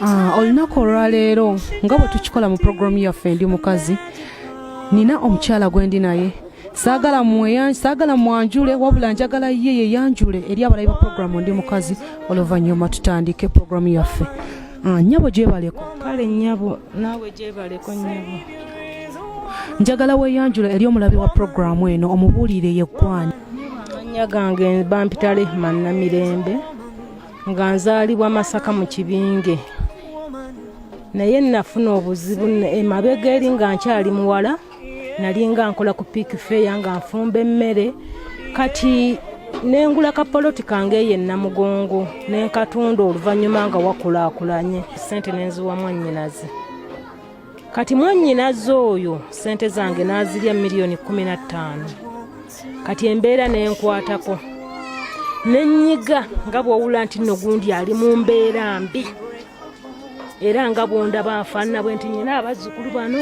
Ah, olunaku olwaleero nga bwe tukikola mu puroguramu yaffe ndi mukazi nina omukyala gwe ndi naye saagala mweyanj saagala mwanjule wabula njagala ye yeyanjule eri abalayi ba puroguramu ndi mukazi oluvannyuma tutandike puroguramu yaffe ah, nyabo gyebaleko kale nyabo naawe gyebaleko nyabo njagala weyanjula eri omulabi wa puroguramu eno omubuulire yeggwani anya gange bampita rehman namirembe nga nzaalibwa masaka mu kibinge naye nafuna obuzibu emabega eri nga nkyali muwala nali nga nkola ku piiki feeya nga nfumba emmere kati nengula kapoloti kange eyo enamugongo nenkatunda oluvannyuma nga wakulaakulanye sente nenziwa mwannyinaze kati mwanyinaze oyo sente zange n'azirya miliyoni kumi na ttaano kati embeera nenkwatako nenyiga nga bwowula nti nno gundi ali mu mbeera mbi era nga bwondaba nfaanana bwe nti nyina abazzukulu bano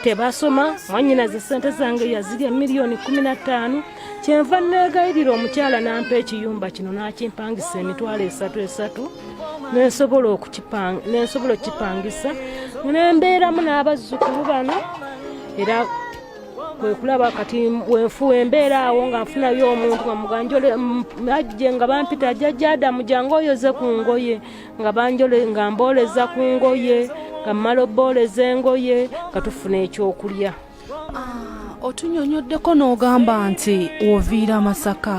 tebasoma mwanyinaze sente zange yazirya miliyoni kumi na ttaano kyenva negayirira omukyala nampa ekiyumba kino nakimpangisa emitwalo esatu esatu nensobola okukipangisa nembeeramu n'abazzukulu bano era kwekulaba kati wenfuwa embeera awo nga nfunayo omuntu ngamuganjoleajje nga bampita ajajadamu jange oyoze ku ngoye nga banjole nga mbooleza ku ngoye nga mmala obbooleza engoye nga tufuna ekyokulya ah, otunyonyoddeko n'ogamba nti woviira masaka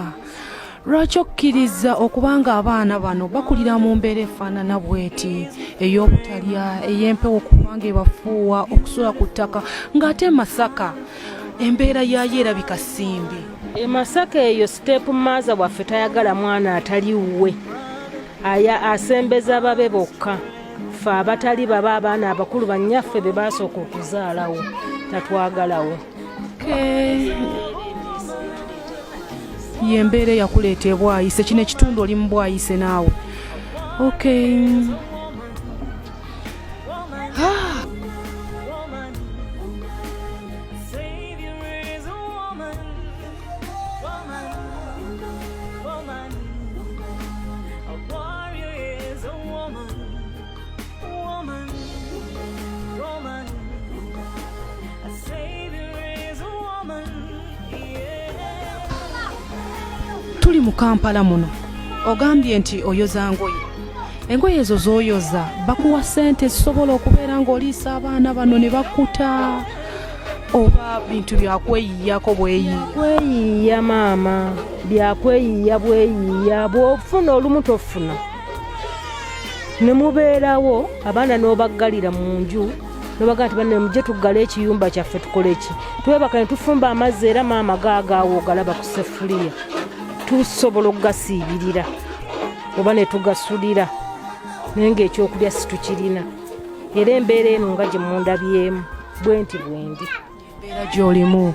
lwaki okkiriza okuba nga abaana bano bakulira mu mbeera efaanana bweti ey'obutalya ey'empewo okuba nga ebafuuwa okusula ku ttaka ng'ate masaka embeera yaayo erabika simbi emasaka eyo siteepu maaza waffe tayagala mwana atali wuwe aya asembeza babe bokka ffe abatali baba abaana abakulu bannyaffe be baasooka okuzaalawo tatwagalawo yembeera eyakuleeta ebwayise kino ekitundu oli mu bwayise naawe okay tuli mu kampala muno ogambye nti oyoza ngoye engoye ezo z'oyoza bakuwa ssente zisobola okubeera ng'oliisa abaana bano ne bakuta oba bintu byakweyiyako bweyiyakweyiya maama byakweyiya bweyiya bwofuna olumu tofuna ne mubeerawo abaana n'obaggalira mu nju nobaga nti banne mujje tuggale ekiyumba kyaffe tukole ki twebaka ne tufumba amazzi era maama gaagaawo ogalaba ku sefuliya tusobola okugasiibirira oba ne tugasulira naye ngaekyokulya situkirina era embeera eno nga gye mundabyemu bwenti bwendi embeera gyolimu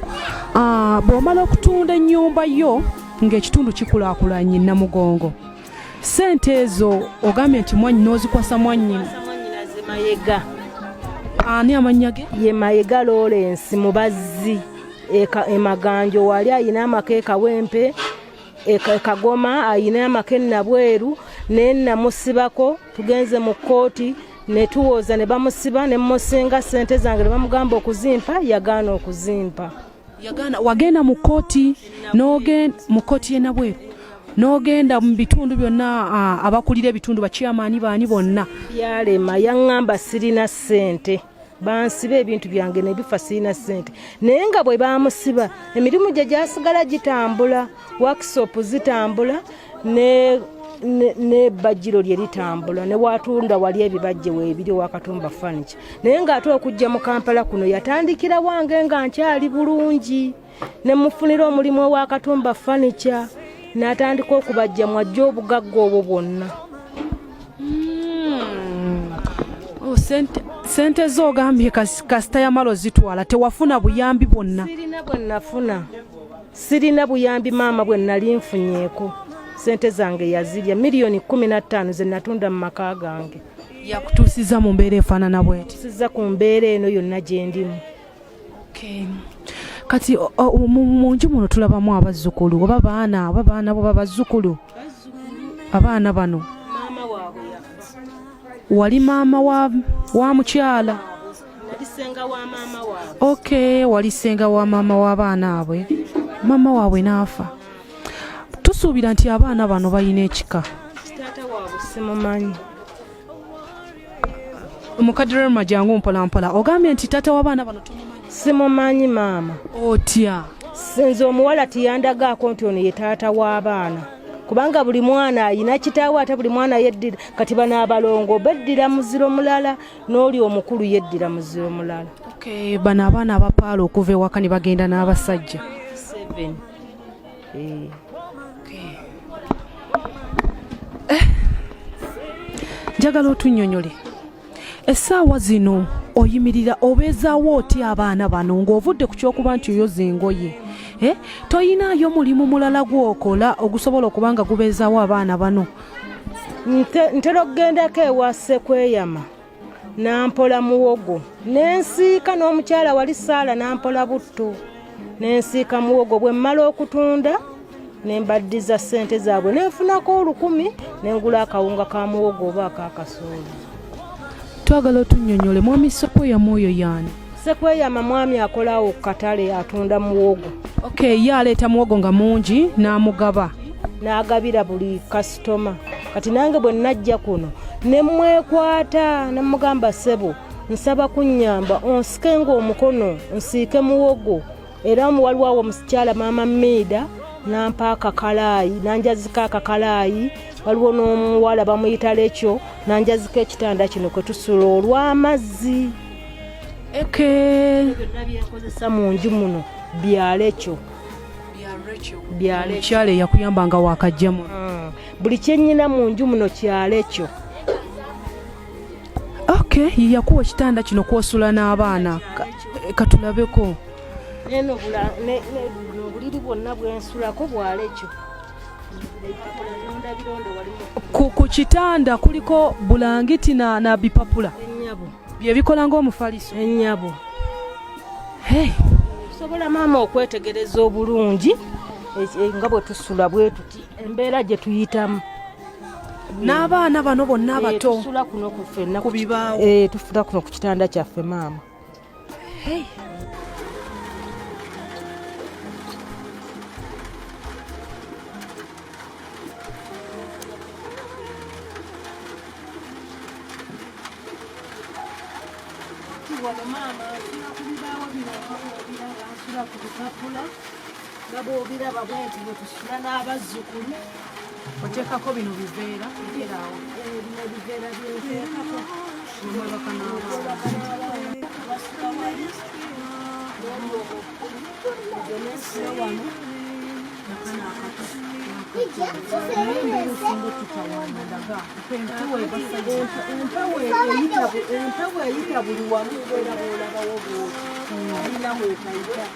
ah, bw'omala okutunda ennyumba yo ng'ekitundu kikulaakulanye namugongo sente ezo ogambye nti mwanyi n'ozikwasa mwannyini mayega ani amannya ge ye mayega lawrence mubazzi emaganjo e wali ayina amaka ekawempe ekagoma ayina amaka enabweru naye namusibako tugenze mu kkooti netuwooza ne bamusiba ne mmusinga ssente zange ne bamugamba okuzimpa yagaana okuzimpa yagaana wagenda mu kkooti n'ogenda mu kkooti yenabweru n'ogenda mu bitundu byonna abakulira ebitundu bakyamaani baani bonna yalema yaŋŋamba sirina ssente bansiba ebintu byange nebifa sirina sente naye nga bwe bamusiba emirimu gye gyasigala gitambula workshop zitambula ne nebajjiro lye litambula newatunda wali ebibajje webiri wakatumba fanicha naye ngaate okujja mu kampala kuno yatandikira wange nga nkyali bulungi ne mufunira omulimu owa katumba fanica n'atandika okubajja mwajja obugagga obwo bwonna hmm. oh, sente zo ogambye kasita yamala ozitwala tewafuna buyambi bwonna sirina bwe nafuna sirina buyambi maama bwe nali nfunyeeko sente zange yazirya miliyoni kumi na ttaano ze natunda mu maka gange yakutuusiza mu mbeera efaanana bwetisiza ku mbeera eno yonna gyendimu kati mu nju muno tulabamu abazzukulu oba baana oba baana bo babazzukulu abaana bano wali maama wa mukyala ok wali senga wa maama w'abaana abwe maama waabwe n'afa tusuubira nti abaana bano balina ekika mukadde rema jangu mpolampola ogambye nti taata w'abaana bano tumumanyi simumanyi maama otya sinze omuwala tiyandagaako nti ono ye taata w'abaana kubanga buli mwana ayina kitaawe ate buli mwana yeddira kati bano abalongo beddira muziro mulala n'oli omukulu yeddira muziro mulala bano abaana abapaala okuva ewaka ne bagenda n'abasajja Eh. Eh. njagala otunyonyole essaawa zino oyimirira obeezaawo otya abaana bano ng'ovudde ku kyokuba nti oyoza engoye eh? toyinaayo mulimu mulala gwokola ogusobola okuba nga gubeezaawo abaana bano ntera okugendako ewa sekweyama nampola muwogo nensiika n'omukyala wali saala nampola butto nensiika muwogo bwe mmala okutunda nembaddiza ssente zaabwe nenfunako olukumi nengula akawunga ka muwogo oba akakasooli twagala otunyonyole mwami sopo yamwoyo yaani sekweyama mwami akola awo ku katale atunda muwogo okay ye aleeta muwogo nga mungi n'amugaba n'agabira buli kasitoma kati nange bwe najja kuno ne mwekwata ne mugamba ssebo nsaba kunnyamba onsike ng'omukono nsiike muwogo era omu waliwo awo omusikyala maama miida nampa akakalaayi nanjazika akakalaayi waliwo n'omuwala bamuyita lekyo nanjazika ekitanda kino kwe tusula olw'amazzi eke byonna byenkozesa mu nju muno byalekyo mukyala eyakuyamba nga wakajjamu hmm. buli kyenyina mu nju muno kyalekyo okay yakuwa ekitanda kino kwosula n'abaana katulabeko neno obuliri bwonna bwensulako bwalekyo ku kitanda kuliko bulangiti na, na bipapula byebikola ngaomufaliso enyabo hey. sobola maama okwetegereza obulungi nga bwe tusula bwetuti embeera gye tuyitamu n'abaana bano bonna eh, abato ku bibaawo eh, tufula kuno ku kitanda kyaffe maama nga bwobiraba bwenti bwetusula n'abazzukulu oteekako bino biveera biveeraawo bino biveera byenteekako empewo eyita buli wamu era bwolabawo bwoti alina wekaita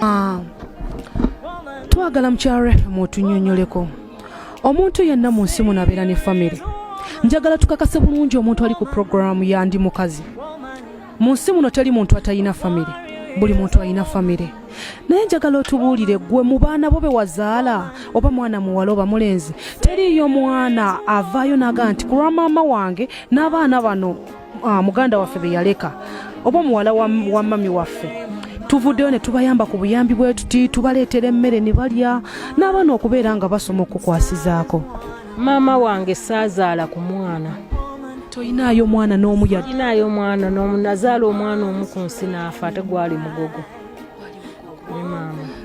Ah. twagala mukyala rehema otunyonyoleko omuntu yenna mu nsi muno abeera ne famire njagala tukakase bulungi omuntu ali ku puroguramu yandi mukazi mu nsi muno teri muntu atalina famire buli muntu alina famire naye njagala otubuulire gwe mu baana bo be wazaala oba mwana muwala oba mulenzi teriiyo mwana avaayo naga nti kulwa maama wange n'abaana bano ah, muganda waffe be yaleka oba muwala wa mami waffe tuvuddeyo ne tubayamba ku buyambi bwe tuti tubaleetera emmere ne balya n'abaana okubeera nga basoma okukwasizaako maama wange saazaala ku mwana toyinaayo omwana n'omu yadinaayo omwana n'omu nazaala omwana omu ku nsi n'afa ate gwali mugogo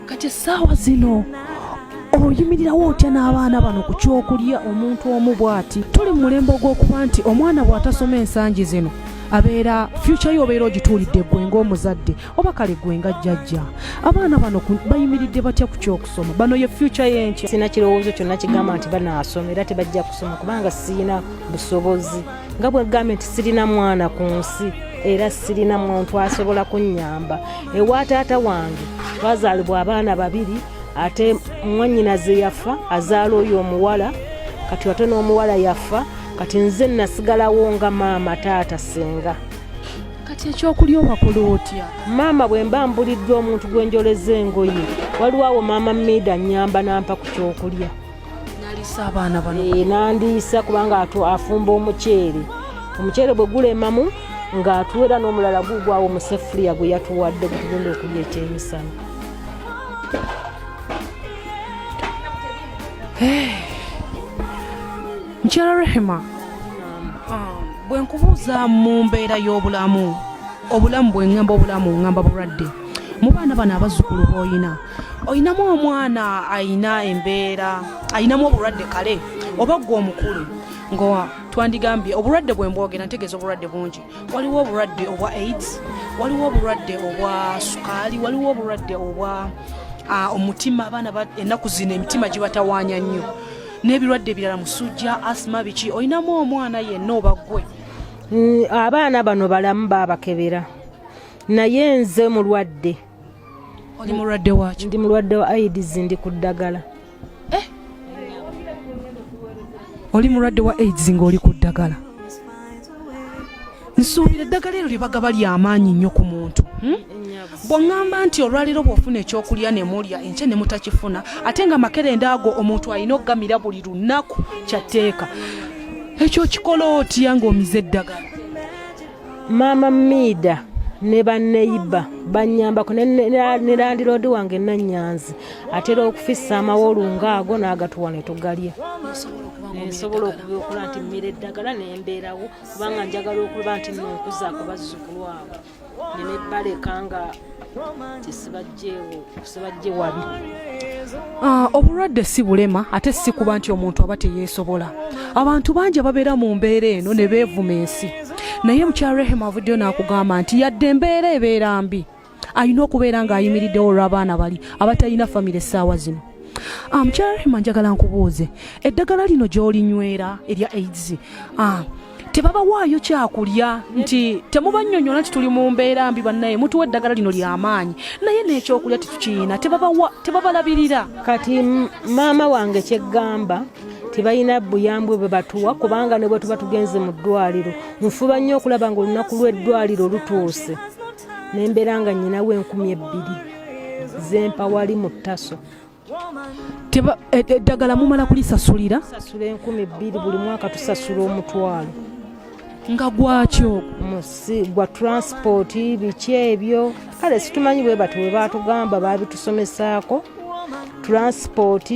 kati essaawa zino oyimirirawo otya n'abaana bano ku kyokulya omuntu omu bw'ati tuli mu mulembe ogw'okuba nti omwana bw'atasoma ensangi zino abeera fyukya yo obeera ogituulidde ggwe ng'omuzadde oba kale gwe nga jjajja abaana bano bayimiridde batya ku kyokusoma bano ye fyuca yenkya sina kirowoozo kyonna kigamba nti banaasoma era tebajja kusoma kubanga sirina busobozi nga bwegambye nti sirina mwana ku nsi era sirina muntu asobola kunnyamba ewa taata wange twazaalibwa abaana babiri ate mwanyinaze yafa azaala oyo omuwala kati ate n'omuwala yafa kati nze nasigalawo nga maama taata senga kati ekyokulya owakola otya maama bwe mba mbuliddwa omuntu gwe njoleza engoye waliwo awo maama miida nyamba nampa ku kyokulya naliisa abaana bano ee eh, nandiisa kubanga afumba omuceere omuceere bwe gulemamu ng'atuwera n'omulala gugwawo omusefuliya gwe yatuwadde gutugenda okulya ekyemisana Hey. Eh. mukyala rehema um, bwe nkubuuza mu mbeera y'obulamu obulamu bwe ŋŋamba obulamu ŋŋamba bulwadde mu baana bano abazzukulu b'olina olinamu omwana alina embeera alinamu obulwadde kale oba ggwe omukulu nga twandigambye obulwadde bwe mbwogera ntegeeza obulwadde bungi waliwo obulwadde obwa aids waliwo obulwadde obwa sukaali waliwo obulwadde obwa ah, omutima abaana ennaku zino emitima gibatawaanya nnyo n'ebirwadde ebirala musujja asima biki olinamu omwana yenna oba gwe mm, abaana bano balamu babakebera naye nze mulwadde oli mulwadde waki ndi mulwadde wa aids ndi ku ddagala eh? oli mulwadde wa aids ng'oli ku ddagala nsuubira eddagala eryo lyebagaba lyamaanyi nnyo ku muntu hmm? bwongamba nti olwaleero bwofuna ekyokulya nemulya enkye nemutakifuna ate nga makerenda ago omuntu alina okugamira buli lunaku kyatteeka ekyo kikola otya ngaomize eddagala maama miida ne banneyiba bannyambako ne landiroodi wange nanyanzi atera okufisa amawolunga ago n'agatuwa ne tugalya nensobola okubiokula nti mmira eddagala nembeerawo kubanga njagala okuba nti nonkuza ku bazzukulu abo nenebaleka nga tesibajje wabi ah, obulwadde si bulema ate si kuba nti omuntu aba teyeesobola abantu bangi ababeera mu mbeera eno ne beevuma ensi naye mukyarehemu avuddeyo n'akugamba nti yadde embeera ebeera mbi alina okubeera ng'ayimiriddewo olw'abaana bali abatalina famire essaawa zino ah, mukyala rehima njagala nkubuuze eddagala lino gy'olinywera erya aids ah, tebabawaayo kyakulya nti temubanyonyola nti tuli mu mbeera mbi bannaye mutuwa eddagala lino lyamaanyi naye n'ekyokulya tetukiyina tebabalabirira kati maama wange kyeggamba tebalina buyambwe bwe batuwa kubanga ne bwe tuba tugenze mu ddwaliro nfuba nnyo okulaba nga olunaku lw'eddwaliro lutuuse ne mbeera nga nyinawo enkumi ebbiri zempa wali mu ttaso e, eddagala mumala kulisasulira sasula enkumi bbiri buli mwaka tusasula omutwalo nga gwakyo musi gwa transport biki ebyo kale situmanyi bwe bati webatugamba babitusomesaako transport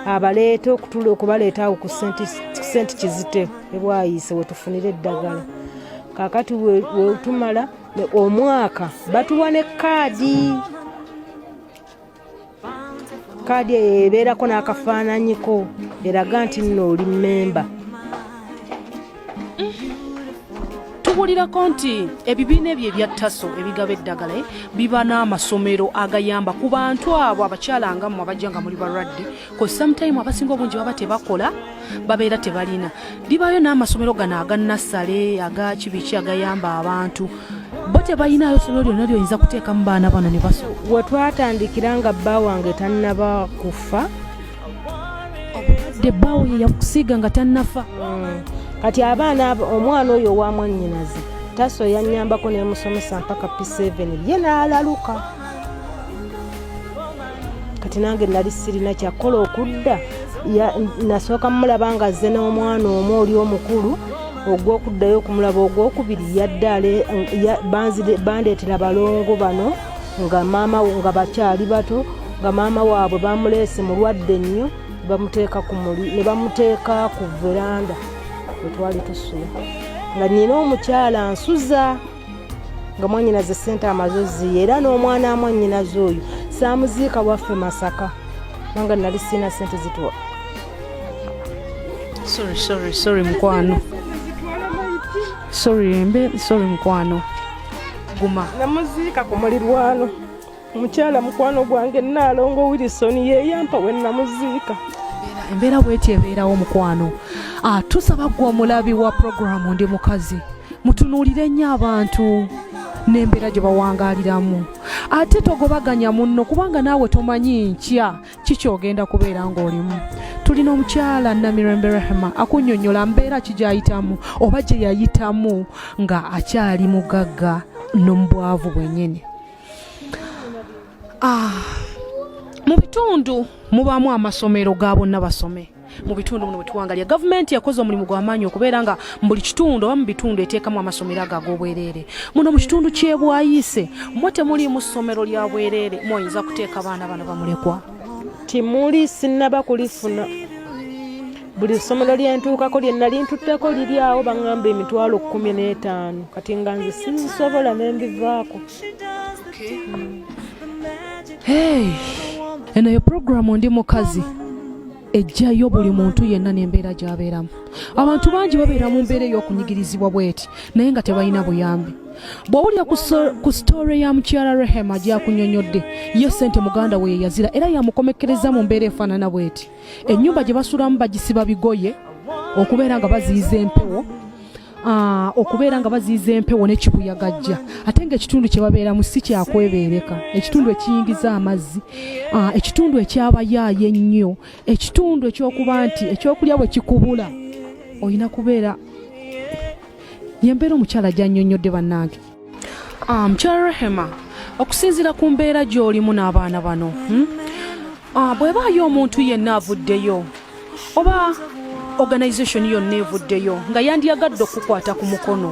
abaleeta okutula okubaleeta awo ku senti kizite ebwayise wetufunira eddagala kakati wetumala omwaka batuwa ne kaadi kaadi eyo ebeerako n'akafaananyiko eraga nti nno oli mmemba tuwulirako nti ebibiina ebyo ebya taso ebigaba eddagala eh, biba n'amasomero agayamba ku bantu abo abakyala nga mmwe abajja nga muli balwadde ku sometime abasinga obungi baba tebakola babeera tebalina libayo n'amasomero gano aga nassale aga kibiki agayamba abantu bo tebalinayo somero lyonna lyoyinza kuteekamu baana bano ne baso we twatandikira nga bba wange tannaba kufa obulwadde bbawo ye yakusiiga nga tannafa mm. kati abaana omwana oyo owamwannyinaze taso yanyambako nemusomesa mpaka p7 ye n'alaluka kati nange nali sirina kyakukola okudda nasooka mumulaba nga azze n'omwana omu oli omukulu ogwokuddayo okumulaba ogwokubiri yaddale bandeetera balongo bano nga maama nga bakyali bato nga maama waabwe bamuleese mulwadde nnyo bamuteeka ku muli ne bamuteeka ku veranda wetwali tusula nga nina omukyala nsuza nga mwanyinaze sente amaze ziye era n'omwana amwanyinaze oyo saamuziika waffe masaka nanga nali siina sente zituwa sorry sorry sorry mukwano sorry embe sorry mukwano guma namuziika ku mulirwano mukyala mukwano gwange naalongo wilison yeyampa we namuziika embeera bweti ebeerawo mukwano ah, tusaba gwe omulabi wa puroguramu ndi mukazi mutunuulire nnyo abantu n'embeera gye bawangaliramu ate togobaganya munno kubanga naawe tomanyi nkya kikyogenda kubeera ng'olimu tulina omukyala namirembe rahima akunyonyola mbeera kigyayitamu oba gye yayitamu nga akyali mugagga n'omubwavu bwenyini Ah, mu bitundu mubaamu amasomero ga bonna basome mu bitundu muno bwetuwangalya gavumenti yakoze omulimu gwamaanyi okubeera nga buli kitundu oba mu bitundu eteekamu amasomero ago ag'obwereere muno mu kitundu kyebwayise mwe temuliimu ssomero lya bwereere mwoyinza kuteeka abaana bano bamulekwa timuli sinnaba kulifuna buli ssomero lyentuukako lyenna lintutteko liri awo baŋŋamba emitwalo kkumi n'etaano kati nga nze sizisobola ne mbivaako eno yo puroguramu ndi mukazi ejjayo buli muntu yenna n'embeera gy'abeeramu abantu bangi babeera mu mbeera ey'okunyigirizibwa bweti naye nga tebalina buyambi bw'owulira ku sitoore ya mukyala rehema gyakunyonyodde ye ssente muganda we yeyazira era yamukomekkereza mu mbeera efaanana bweti ennyumba gye basulamu bagisiba bigoye okubeera nga baziyiza empewo ah, okubeera nga baziyiza empewo nekibuyagajja ate nga ekitundu kye babeeramu si kyakwebeereka ekitundu ekiyingiza amazzi ah, ekitundu ekyabayaayo ennyo ekitundu ekyokuba nti ekyokulya bwe kikubula olina kubeera yembeera omukyala gyanyonyodde bannange mukyala um, rehema okusinziira ku mbeera gy'olimu n'abaana bano hmm? ah, bwebaayo omuntu yenna avuddeyo oba organization yonna evuddeyo nga yandiyagadde okukwata ku mukono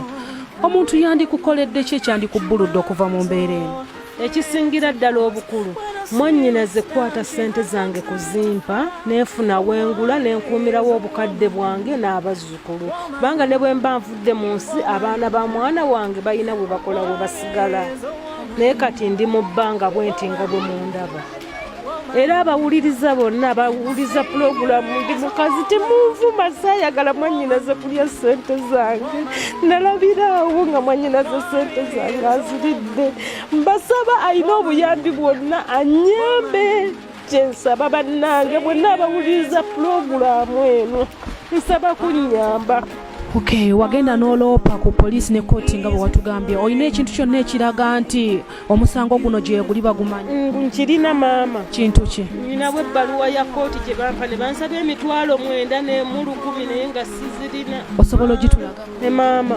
omuntu yandikukoledde ki ekyandikubbuludde okuva mu mbeera eno ekisingira ddala obukulu mwannyina zikwata ssente zange kuzimpa nenfuna wengula nenkuumirawo obukadde bwange n'abazzukulu kubanga ne bwe mba nvudde mu nsi abaana ba mwana wange balina bwe bakola we basigala naye kati ndi mu bbanga bwenti nga bwe mundaba era abawuliriza bonna abawuliriza pulogulamu ndi mukazi temunvuma saayagala mwanyinaze kulya sente zange nalabiraawo nga mwanyinaze sente zange aziridde mbasaba alina obuyambi bwonna anyambe kyensaba bannange bwenna abawuliriza pulogulamu eno nsaba kunyamba okay wagenda noloopa ku poliisi ne kooti nga bwe watugambye olina ekintu kyonna ekiraga nti omusango guno gyeguli bagumanyi mm, nkirina maama kintu ki ninawo ebbaluwa ya kooti gye bampa ne bansaba emitwalo mwenda nemu lukumi naye nga sizirina osobola ogitulaga ne maama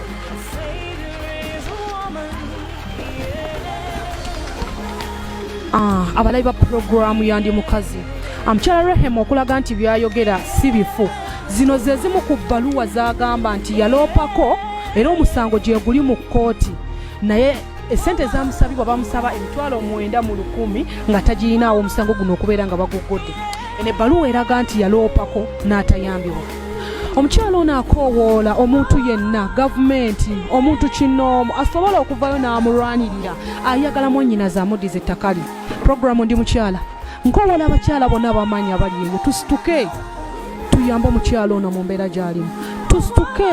Ah, abalabi ba pulogulaamu yandi mukazi amukyala rehemu okulaga nti byayogera si bifu zino ze zimu ku bbaluwa zagamba nti yaloopako era omusango gyeguli mu kkooti naye esente ezamusabibwa bamusaba emitwalo omwenda mu lukumi nga tagirinaawo omusango guno okubeera nga baguggodde eno ebbaluwa eraga nti yaloopako n'atayambibwa omukyala ono akoowoola omuntu yenna gavumenti omuntu kinoomu asobola okuvayo n'amulwanirira ayagala mwanyinaze amuddiza ettaka lye puroguramu ndi mukyala nkowoola abakyala bonna abamanyi abali eyo tusituke tuyambe omukyala ono mu mbeera gy'alimu tusituke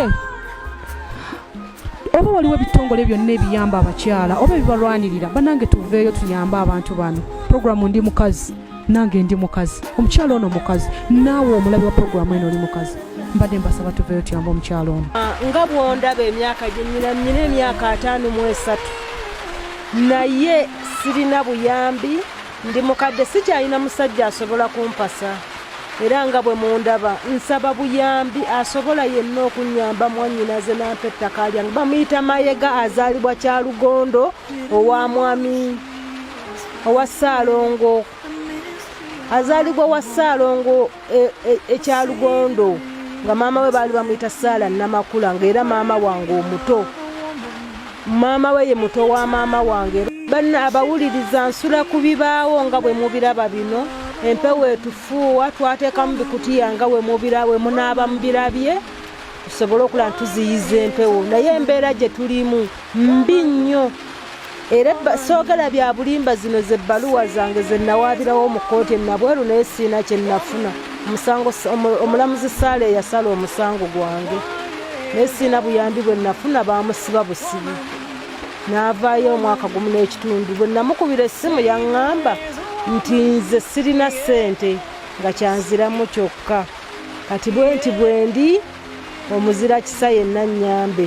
oba waliwo ebitongole byonna ebiyamba abakyala oba ebibalwanirira banange tuveeyo tuyambe abantu bano puroguramu ndi mukazi nange ndi mukazi omukyalo ono mukazi naawe omulabi wa puroguramu eno oli mukazi mbadde mbasaba tuveyo tuyamba omukyalo ono ah, nga bwondaba emyaka gyenyina nyina emyaka ataano mu esatu naye sirina buyambi ndi mukadde sikyalina musajja asobola kumpasa era nga bwe mundaba nsaba buyambi asobola yenna okunyamba mwanyinaze nampa ettaka lyange bamuyita mayega azaalibwa kyalugondo owa mwami owa ssaalongo azaalibwa owa ssaalongo ekyalugondo e, e, e nga maama we baali bamuyita saala namakula ngaera maama wange omuto maama we ye muto wa maama wange banna abawuliriza nsula ku bibaawo nga bwe mubiraba bino empewo etufuuwa twateekamu bikutiya nga we mubira we munaaba mubirabye tusobole okulaba tuziyiza empewo naye embeera gye tulimu mbi nnyo era soogera bya bulimba zino ze bbaluwa zange ze nawaabirawo mu kkooti enabweru naye siina kye nafuna omusango omulamuzi saala eyasala omusango gwange naye siina buyambi bwe nafuna baamusiba busibi n'avaayo omwaka gumu n'ekitundu bwe namukubira essimu yaŋŋamba nti nze sirina ssente nga kyanziramu kyokka kati bwe nti bwendi omuzira kisa yenna nnyambe